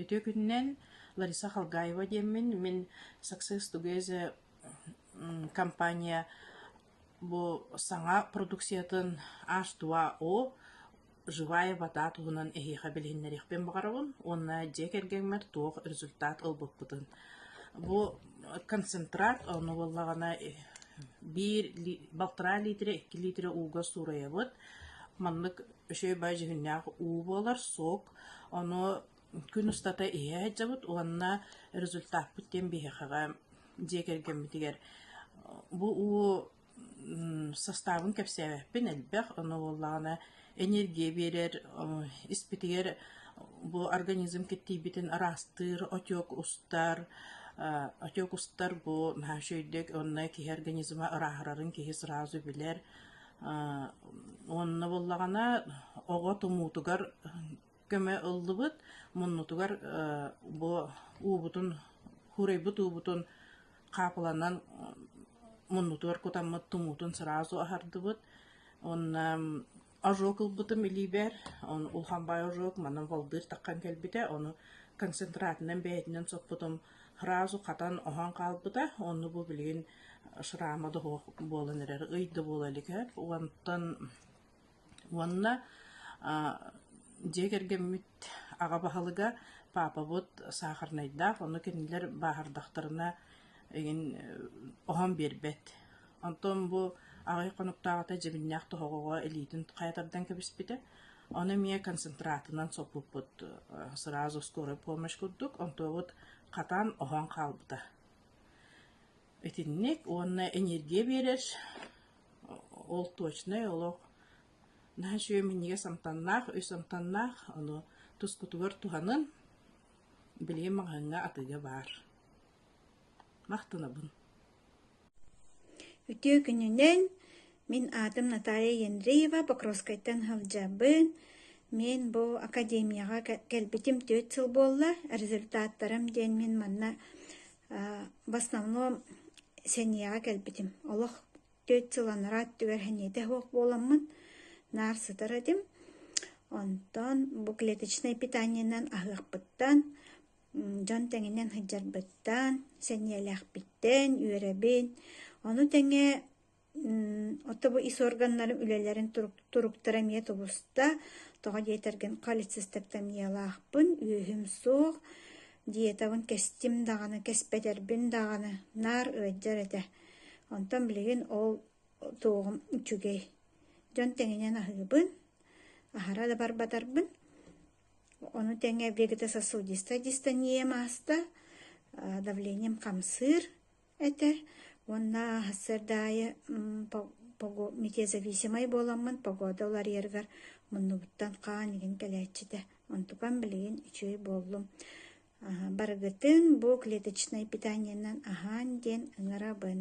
Ити өкүнүнэн Лариса Халгаева диэммин, мин Success Together компания бу саҥа продукциятын H2O живая вода туһунан эһиэхэ билиһиннэриэхпин баҕарабын уонна дьиэ кэргэҥмэр туох результат ылбыппытын. Бу концентрат ону буоллаҕына биир балтараа лиитирэ, икки лиитирэ ууга суурайабыт. Маннык үчүгэй-бай дьүһүннээх уу буолар, суок. Ону күн устата иһэ сылдьабыт уонна результаппыт диэн биһиэхэҕэ дьиэ кэргэммитигэр бу уу састаабын кэпсээбэппин элбэх. Ону буоллаҕына энергия биэрэр, испитигэр бу организм киртийбитин араастыыр отек устар. Отек устар бу наһаа үчүгэйдик уонна киһи организма ырааһырарын киһи сразу билэр. Уонна буллаҕына оҕо тумуутугар көмө ыллыбыт, муннутугар бу уубутун, хурайбыт уубутун хаапыланан муннутугар кутаммыт тумуутун сразу аһардыбыт. Уонна ожог ылбытым илиибэр, улахан баай ожог, манан волдыыр таххан кэлбитэ, ону концентратынан бэйэтинэн соппутум. Һразу хатан оһон хаалбыта, онно бу билигин шрама да суох буолан эрэр, ый да буола илик эбит. Уонтан уонна дьиэ кэргэммит аҕа баһылыга паапабыт саахарнайдаах, онно кинилэр бааһырдахтарына игин оһон биэрбэт. Онтон бу аҕай хонуктааҕыта дьэбиннээх тоһоҕоҕо илиитин хайатардан кэбиспитэ. Ону эмиэ концентратынан соппуппут сразу скорую помощь курдук, онтуобут хатан оһон хаалбыта. Итинник уонна энергия биэрэр ол точнай олох наһаа үчүгэй минньигэс амтаннаах, үс амтаннаах, ону тускутугар туһанан билигин маҕаһыыҥҥа атыыга баар. Махтанабын Үтүө күнүнэн! Мин аатым Наталья Ендреева, Покровскайтан сылдьабын. Мен бу академияҕа кэлбитим түөрт сыл буолла. Результаттарым диэн мин манна в основном сэниэҕэ кэлбитим. Олох түөрт сыл анараа өттүгэр сэниэтэ суох буоламмын наар сытар этим. Онтон бу клеточное питаниенан аһыахпыттан Дьон тэҥинэн сылдьарбыттан, сэниэлээхпиттэн, үөрэбин. Ону тэҥэ отто бу ис органнарым үлэлэрин туруктара эмиэ тубуста. Тоҕо диэтэргин, холецистектомиялаахпын, үөһүм суох, диетабын кэстим даҕаны, кэспэтэрбин даҕаны, наар ыалдьар этэ. Онтон билигин ол туоҕум үчүгэй. Дьон тэҥинэн аһыыбын, аһара да барбатарбын. Ону тэҥэ биэргэтэ сосудистая дистония мааста, давлением хамсыыр этэ уонна сырда аайы метезависимай буоламмын погода уларыйарыгар муннубуттан хаан игин кэлээччитэ. Онтукам билигин үчүгэй буоллум. Барыгытын бу клеточнай питаниенан аһаан диэн ыҥырабын.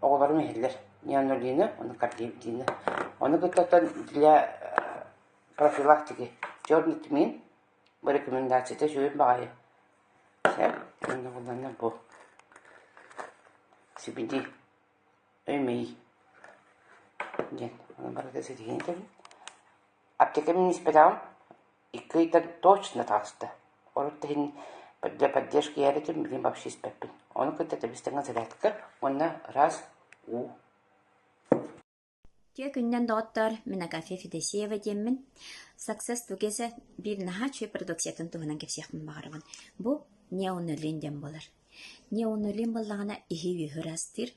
оҕолорум иһиллэр Нианолина, Накардиптина. Ону кытта для профилактики черный тмин бу рекомендацията сүрүн баҕайы Сөп. Уонна буланна бу сибиди өймей диэн. Ону барыта ситиһин этэбин. Аптека миниспетаҕым Икки ыйга точно таҕыста. Урут да иһин для поддержки ийэбитин билим вообще испэппин. Ону кытта тэбис-тэҥэ зарядка уонна раз уу Дьиэ күнүнэн доҕоттоор, мин Агафья Федосеева диэммин. Success Together биир наһаа үчүгэй продукциятын туһунан кэпсиэхпин баҕарабын. Бу неонулин диэн буолар. Неонулин буоллаҕына иһи-үөһү ырастыыр,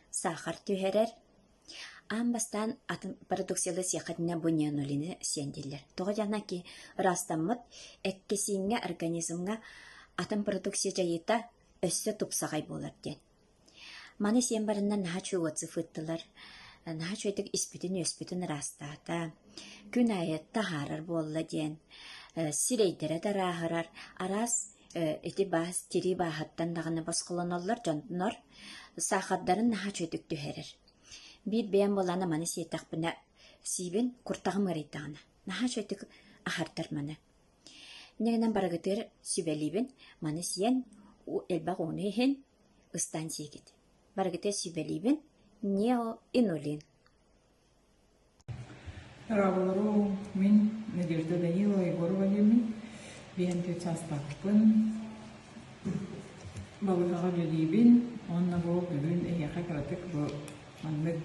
саахар түһэрэр, Аан бастаан атын продукцияны сиэххитинэ бу нианолины сиэн дииллэр. Тоҕо диэтэххинэ ки ыраастаммыт эккэсииҥҥэ, организмҥа атын продукция дьайыыта өссө тупсаҕай буолар диэн. Маны сиэн бараннар наһаа үчүгэй отзыв ыыттылар. Наһаа үчүгэйдик испитин-үөспүтүн ыраастаата. Күн аайы таһаарар буолла диэн сирэйдэрэ да арааһырар. Араас ити баас тирии бааһыттан даҕаны босхолоноллор дьоннор саахардарын наһаа үчүгэй түһэрэр. Биир бэйэм буолаана маны сиэтэхпинэ сиибин куртаҕым ыарыйдаҕына наһаа үчүгэй аһартар маны. Нигынан барыгытыыр сүбэлиибин маны сиэн элбэх ууну иһин ыстаан сиигит. Барыгытыыр сүбэлиибин неоинулин Ороҕолору мин Надежда Данилова, Егору Валерьевны Бээнтэй саастаахпын, балыыһаҕа үлэлиибин уонна бу бүгүн эһиэхэ кыратык бу маннык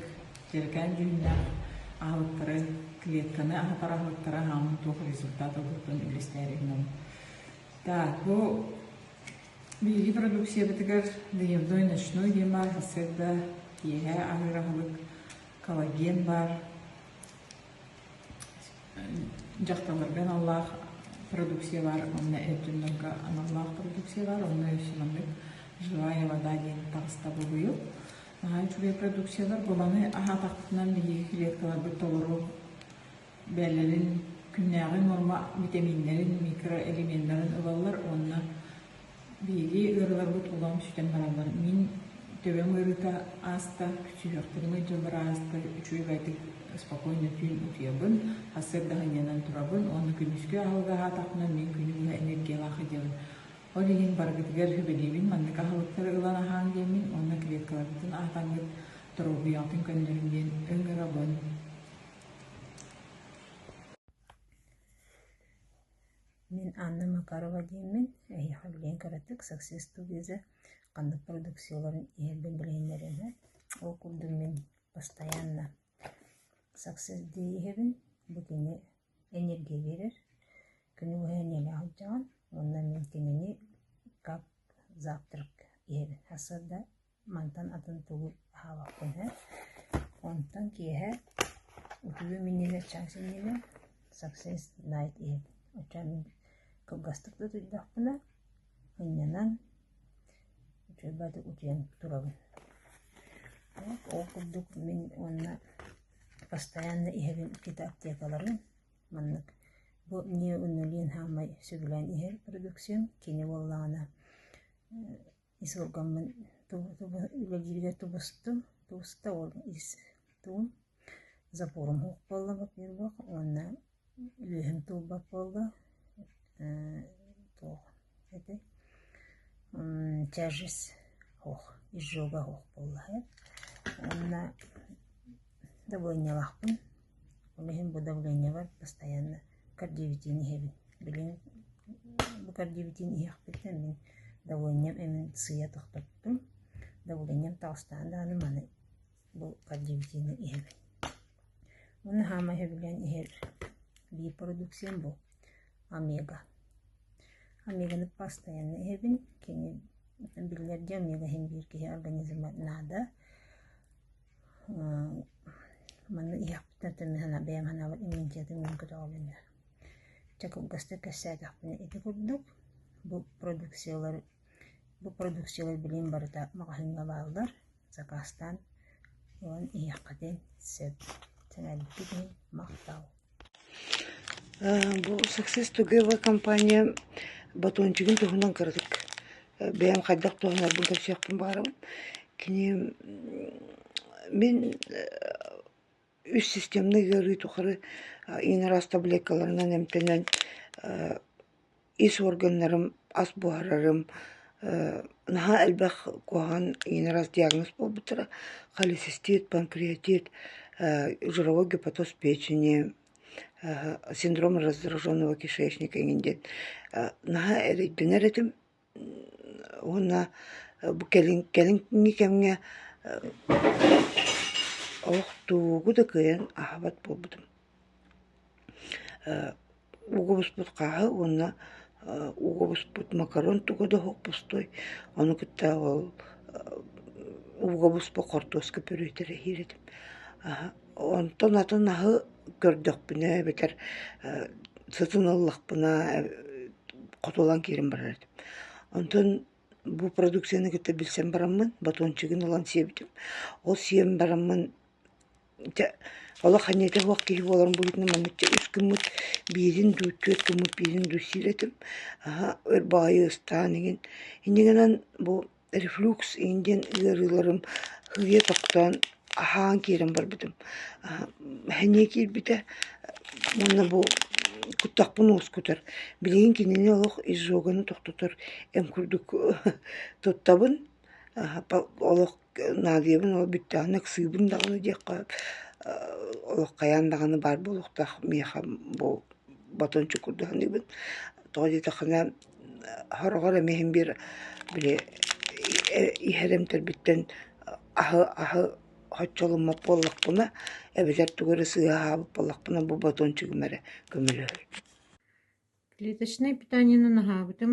дьэргээн дьүһүннээх аһылыктары, клетканы аһатар аһылыктары аһааммын туох результат ылбыппын үллэстээри гынан. Так, бу биһиги продукциябытыгар «Доедой ночной» диэн баар сырда киэһэ аһыыр аһылык Коллаген баар. Дьахталларга аналлаах продукция баар, онно өттүннэргэ аналлаах продукция баар, онно өссүнэммит «Живая вода» диэн таҕыста бугуйу. Наһаа үчүгэй продукциялар, бу маны аһаатахпытынан биһиги клеткаларбыт толору бэйэлэрин күннээҕи нуорма витаминнарын, микроэлеменнарын ылаллар уонна биһиги ыарыыларбыт улаам сүтэн бараллар. Мин төбөм ыарыыта ааста, күчүһүөхтэрим ыйдыллар аастар, үчүгэйдик спокойно түүн утуйабын, сырдаһынньанан турабын уонна күнүскү аһылгаһаатахпына мин күнү быһа энергиялаах идиэбин. Ол иһин баргытыгар сүбэлиибин, маннык аһылыктары ылан аһааҥ диэммин уонна клеткаларгытын аһатаҥҥыт, доруобуйаҕытын көннөрүҥ диэн өҥ ырабын. Мин Анна Макарова диэммин, эһиэхэ билигин кыратык «Саксыы студия» ханнык продукцияларын иһэрбин билиһиннэриэм ээ. Ол курдук мин постоянно «Саксыс» диэ иһэбин, бу кини энергия биэрэр, күнү быһа эниэли алдьаҕын, уонна мин кинини как завтрак иһэбин. Хас сырда Мантан атын тугу аһаабаппын ээ, онтон киэһэ утуйуом иннинэ чаас иннинэ Success Night иһин оччоон кылгастык да утуйдахпына мунньанан утуйан турабын. Ол курдук мин уонна постоянно иһэбин иккитэ аптекаларын маннык бу неонуален саамай сөбүлээн иһэр продукциям кини буоллаҕына Ис олоргоммун тугу тугу үлэлииргэ тубустум. Тубуста ол ис тугум запорум уһук буолла буолла уонна үлүһүм тулбат буолла ээ туох этэй тяжесть оһох изжога оһох буолла уонна добуонньалаахпын Ол иһин бу давлениебар постоянно кардиовитиин иһэбин. Билигин бу кардиовитиин иһиэхпиттэн мин давлением эмин сыыйа тохтоттум. Давлением таҕыстаҕына даҕаны маны бу кардиовитиини иһэбин. Уонна саамай сөбүлээн иһэр B-продукциям бу омега. Омеганы постоянно иһэбин. Кини биллэр дьэ омега иһин биир киһи организма наада. Манна иһиэхпитинэн тенниһынан бэйэм санаабар имиин дьиэтин мин көтөҕөбүн да. Чэ кылгастык кэпсээтэхпинэ ити курдук. Бу продукциялары бу продукциялар билигин барыта маҕаһыыҥҥа бааллар. Закаастаан ылан иһиэххитин сөп. Сэмэрбикит иһин махтал. Бу Success Together компания батончигын туһунан кыратык бэйэм хайдах туһанарбын кэпсиэхпин баҕарабын. Кини мин үс системнай ыарыы тухары иҥэр ас таблеткаларынан эмтэнэн ис уорганнарым, ас буһарарым, наһаа элбэх куһаҕан иньинэ раз диагноз буолбуттара, холецистит, панкреатит, жировой гепатоз печени, синдром раздраженного кишечника иньин диэн наһаа эрэйдэнэр этим уонна бу кэлин кэлиҥҥи кэмҥэ олох тугу да кыайан аһабат буолбутум Угубуспут хааһы уонна угубуспут макарон туга да оһохпустуй, ону кытта ол угубуспу хортуоска бүрүтэрэһиир этим. Онтон атын аһы көрдөхпүнэ эбэтэр сытын ыллахпына хотулан киирэн барар этим. Онтон бу продукцияны кытта билсэн бараммын батончигын ылан сиэбитим. Ол сиэн бараммын Чэ, олох аньыыта суох киһи буоларым быһыытынан манныкча үс гыммыт, биирин дуу, түөрт гыммыт, биирин дуу сиир этим. Аһа, өр баҕайы ыстаан иҥин. Инньэ гынан бу рефлюкс иҥин диэн ыарыыларым сыыйа тохтоон, аһаан киирэн барбытым. Аһа, сэниэ киирбитэ уонна бу куттахпын уоскутар. Билигин кинини олох изжоганы тохтотор эм курдук туттабын. Аһа, олох Наадыйабын ол бүттэҕинэ ыксыыбын даҕаны диэххэ олох хайаан даҕаны баар буолуохтаах миэхэ бу батон чукурдуу саныыбын тоҕо диэтэххинэ сороҕор эмиэ иһин биир били иһэр эмтэрбиттэн аһы аһы хоччоломмот буоллахпына эбэтэр тугу эрэ сыыһа аһаабыт буоллахпына бу батончигым эрэ көмөлөһөр клеточнай питаниены наһаабытым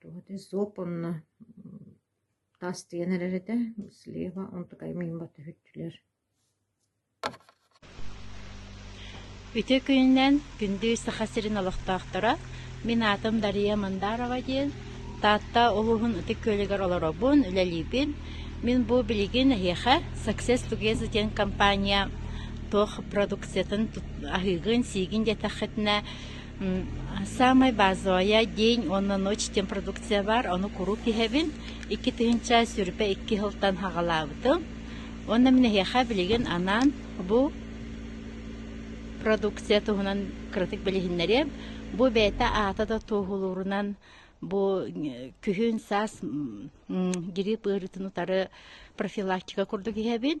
Туох этэ суоп уонна таас тигэн эрэр этэ, слева, онтукайым мин батыһыччылар Ити күнүнэн күндү Саха сирин олохтоохторо, мин аатым Дария Мандарова диэн, Таатта улууһун Ытык Күөлүгэр олоробун, үлэлиибин. Мин бу билигин эһиэхэ Success Together диэн компания туох продукциятын аһыыгын-сиигин диэтэххитинэ, Саамай базовая день уонна ночь диэн продукция баар, ону куруук иһэбин. Икки тыһыынча сүрүпэ икки сылтан аҕалаабытым. Уонна мин эһиэхэ билигин анаан бу продукция туһунан кыратык билиһиннэриэм. Бу бэйэтэ аата да туоһулуурунан бу күһүн-саас грипп ыарыытын утары профилактика курдук иһэбин.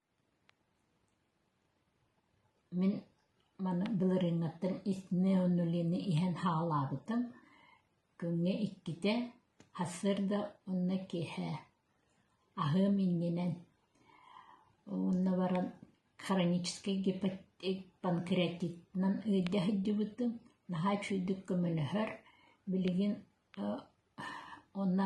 Мин маны былырыыҥҥаттан истинэ онно Лены иһэн хааллаабытым. Күҥҥэ иккитэ, сарсыарда уонна киэһэ аһыам иннинэн. Уонна баран хроническай панкреатитынан ыалдьа сылдьыбытым. Наһаа үчүгэйдик көмөлөһөр. Билигин онно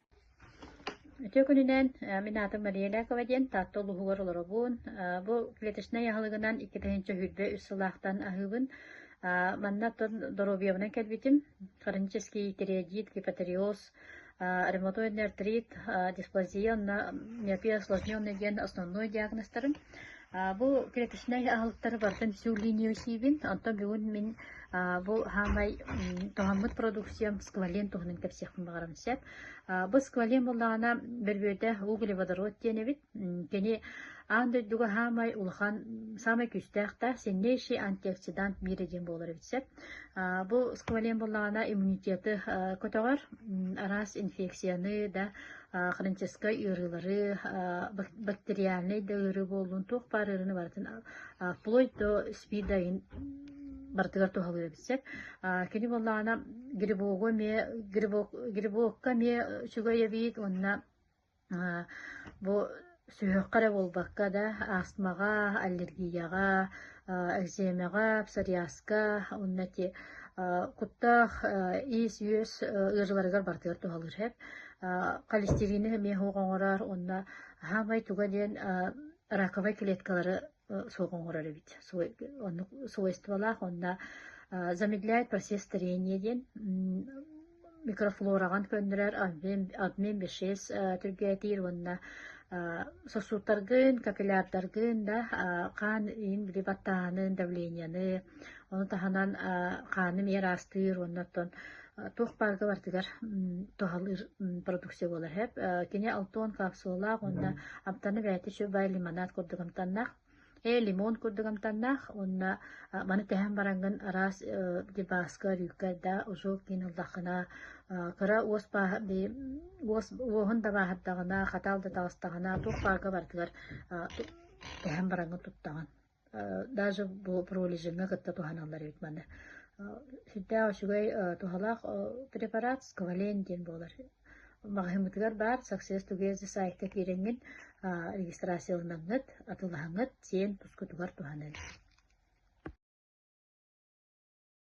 Үтүө күнүнэн, мин аатым Мария Ляпова диэн Таатта улууһугар олоробун. Бу клеточнай аһылыгынан икки тыһыынча сүүрбэ үс сыллаахтан аһыыбын. Манна оттон доруобуйабынан кэлбитим. Хронический тиреоидит, гипотериоз, ревматоидный артрит, дисплазия уонна миопия осложненный диэн основной диагнозтарым. Бу клеточнай аһылыктары барытын всю линию сиибин, онтон бүгүн мин бу хаамай туһаммыт продукциям сквален туһунан кэпсиэхпин баҕарам сөп. Бу сквален буллаҕына бөрбүөтэ углеводород диэн эбит. Кини аан дойдуга хаамай улахан саамай күүстээхтээх сильнейший антиоксидант миэрэ диэн буолар эбит сөп. Бу сквален буллаҕына иммунитеты көтөҕөр, араас инфекцияны да хроническай ыарыылары, бактериальнай да ыарыы буоллун, туох баар ыарыыны барытын вплоть до СПИД айын барытыгар туһалыыр эбитсек. Кини буоллаана грибогу эмиэ грибок грибокка эмиэ үчүгэй эбиит уонна бу Сүһүөххэ эрэ буолбакка да, астмаҕа, аллергияҕа, экземэҕэ, псориазка уонна ити куттаах иис-үөс ыарыыларыгар барытыгар туһалыыр эһэп. холестерины эмиэ оһох оҥорор уонна саамай туга диэн раковай клеткалары суох оҥорор эбит. Свойстволаах уонна замедляет процесс старения диэн микрофлораҕын көннөрөр обмен бешес түргээтиир уонна сосудтаргын, капиллярдаргын да хаан иин били баттааһынын, давлениены, ону таһынан хааны миэр аастыыр уонна оттон туох пааркалартыгар туһалыыр продукция буолар эһэп. Кини алтон капсулалаах уонна амтаны бэйэтэ чө бай лимонад курдук амтаннаах. Ээ лимон курдук амтаннаах уонна маны тэһэн барангын араас дебаска рюккайда ужу кинуллахына кыра уос пааһа уос уоһун дабааһырдаҕына хатаал да таҕыстаҕына туох паарка бартыгар тэһэн барангын туттаҕын даже бу пролежиҥҥа кытта туһаналлар эбит манна сүрдээх үчүгэй туһалаах препарат сквален диэн буолар маҕаһыыммытыгар баар success together сайтка киирэҥҥин регистрацияланаҥҥыт атылаһаҥҥыт сиэн тускутугар туһаныан